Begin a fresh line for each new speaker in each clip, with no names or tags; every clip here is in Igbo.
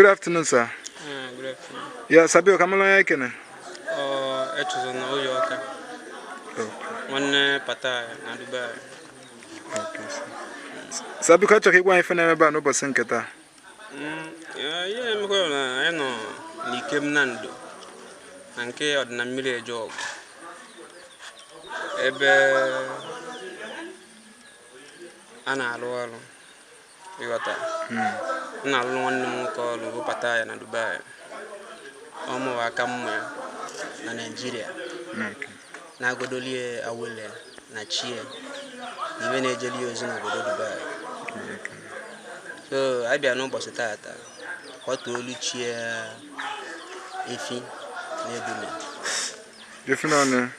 Good afternoon, sir. Uh, good afternoon. Yes, sir biko, ka m malụ onye m kene. Oh, it was an old Yorker. Nwanne Pata na Dubai. Okay, sir. Sir biko achọrọ ka ị gwa anyị ife na-eme ebe a n'ụbọchị nke taa. Mm, ihe emekwa na anyị nọ n'Ikem Nando na nke ọ dị na mmiri eje ọgụ ebe a na-alụ ọrụ ịghọta hmm. m na-alụrụ nwanne m nwoke ọrụ webata ya na Dubai ọ mụwa aka mma na Naịjirịa hmm, na-agọdoli ya awele na chi ya na ife na-ejeli ya ozi n'obodo Dubai hmm, so abịa n'ụbọchị tata kwatuolu chi ya efi na ebule efi naanị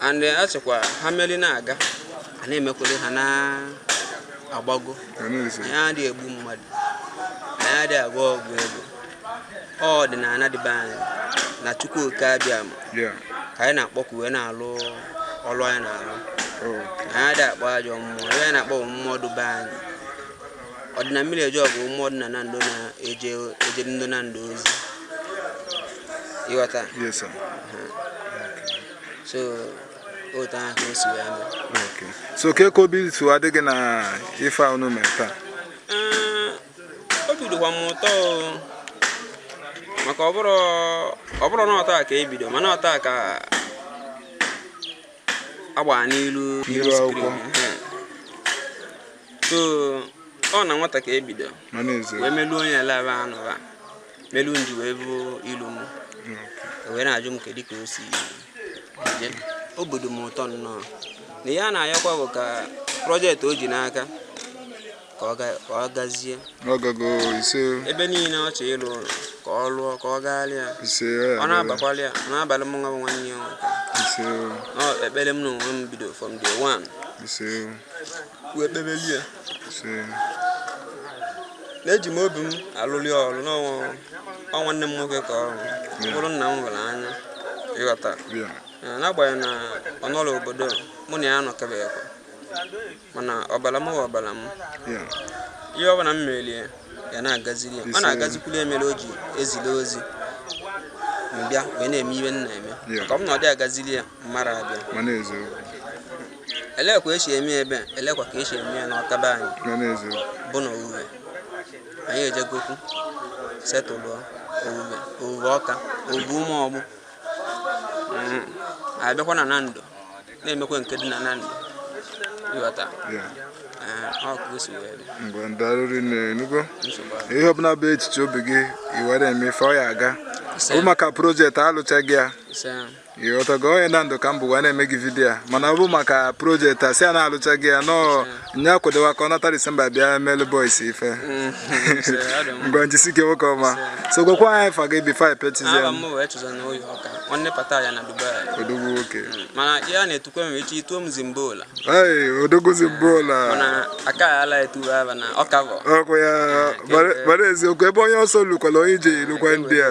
and eh, a sịkwa ha meri na-aga a na-emekwere ha na-agbago anyị adịghị egbu mmadụ anyị adịghị agwọ ọgwụ ego ọ ọdịnala dị be anyị na chukwu oke abịama ka anyị na-akpọku wee na-alụ ọlụ anyị na-alụ oh. anyị adịghị akpọ ajọ mmụọ anyị na-akpọ mmụọ dị be anyị ọ dị na mmiri eje ọgụ mmụọ dị na Nando na-ejeri ndị Nando ozi ịghọta so otu ahụ ka o si wee mee Okay. so kee ka obi si adị gị na ife a unu mere taa Ee, obi dịkwa m ụtọ o. maka ọ bụrọ ọ bụrọ na ọ taa ka e bido mana ọ taa ka a gbaa n'ilu N'ilu screen. akwụkwọ. Ehe. so ọ na nwata ka e bido mana ezo wee meluo onye elebe anụba melu unu ji wee fụ ilu m wee na-ajụ m kedu ka o si je obi dị m ụtọ nnọọ na ihe a na-ayọkwa bụ ka project o ji n'aka ka ọ ga- ka ọ gazie ọ gago ise ebe niile ọ chọ ịlụ ụlọ ka ọ lụọ ka ọ gaala ya ise ọ na-abakwala ya ọ na-abalụ m nwa bụ nwanne ya nwoke ise Ọ ekpere m na onwe m bido from day one ise wee kpebeli ya na eji m obi m alụli ọrụ na ọ nwa- ọ nwanne m nwoke ka ọ bụrụ nna m nwere anya ịghọta n'agbanyeghị na ọ nọrọ obodo mụ na ya anọkọbeghịkwa mana ọbara m bụ ọbara m ihe ọbụla m meeri ya na-agaziri ya ọ na-agazikwuru ya mere o ji ezili ozi m bịa wee na-eme ihe m na-eme ọ bụ na ọ dị agaziri ya m mara abịa elekwa esi eme ebe a elekwa ka esi eme ya n'Ọka be anyị na n'ezie bụ na owuwe anyị ejegokwu settle owuwe owuwe Ọka owuwe Ụmụọgbụ Mm. anyị bịakwa na Nando na-emekwa nke dị na Nando ịghọta ya Ee, ọ ka o si wee bịa mgbe ndarịrị na-enugo nsogbu ahụ. ihe ọbụla bụ echiche obi gị i were eme ife ọ ya aga ọ Ise, bụ maka project a lụcha gị ya ise. ịghọtago onye Nando ka m bụ wee na-eme gị video a mana ọ bụ maka project a sị a na-alụcha gị ya nọọ nye akwadowa ka ọ nata December bịa melu boys ife ngwa njisi gị nwoke ọma so gwakwa anyị afa gị before pechizie Aha m wee chụza na oyi ọka nwanne pata ya na Dubai odogwu nwoke mana ya na-etukwe m echi ituo m zimbola ei odogwu zimbola mana aka ya ala etuwe aba na ọka bụ ọkụ ya mara eziokwu ebe onye ọsọ lukwala onye ije elukwa ndị a